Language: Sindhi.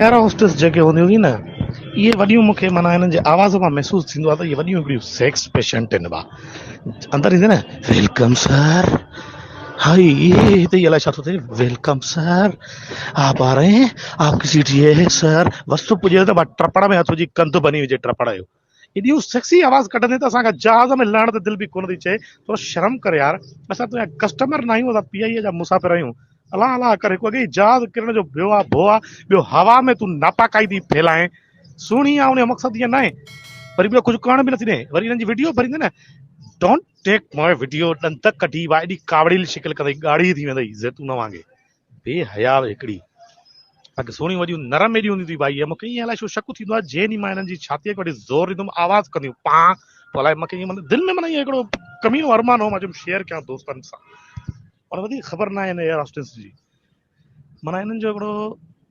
ايئر هوسٽس جيڪي هونديون ٿي نه اهي وڏيون مون کي معنيٰ هنن جي آواز مان محسوس ٿيندو آهي ته اهي وڏيون هڪڙيون سيڪس پيشنٽ آهن ڀا اندر ايندي نه ويلڪم سر هائي هتي ئي الائي ڇا ٿو ٿئي ويلڪم سر آپ آ رهي هين آپ ڪي سيٽ هي سر بس تو پڄيو ته ٽپڙ ۾ هٿ وجهي ڪنڌ بني وجهي ٽپڙ جو ايڏيون سيڪسي آواز ڪڍندين ته اسان کان جهاز ۾ لهڻ تي دل به ڪونه ٿي چئي، ٿورو شرم ڪر يار، اسان تنهنجا ڪسٽمر ناهيون اسان پي آء اي جا مسافر آهيون، الاهه الاهه ڪر هڪ اڳيئي جهاز ڪرڻ جو ڀيو آ ڀو آ ٻيو هوا ۾ تون ناپاڪائي ٿي ڦهلائين سهڻي آ انهيو مقصد ايئن ناهي وري ٻيو ڪجهه ڪرڻ به نٿي ڏين وري انهن جي وڊيو ڀريندين نه ڊونٽ ٽيڪ ماء وڊيو ڏند ڪڍي وا ايڏي ڪاوڙيل شڪل ڪندئي ڳاڙهي ٿي ويندئي زيتون وانگي بي حياء هڪڙي. اگهه سهڻيون وڏيون نرم ايڏيون هونديون ٿي ڀائي مون کي ائين الائي ڇو شڪ ٿيندو آهي جئين ئي مان هنن جي ڇاتيء کي وٺي زور ڏيندم آواز ڪنديون پان تو الائي مون کي ائين مطلب دل ۾ معنيٰ ائين هڪڙو ڪمينو ارمان هو مان چيم شيئر ڪيان دوستن سان پر وڌيڪ خبر ناهي هن ايئر هاسٽس جي معنيٰ هنن جو هڪڙو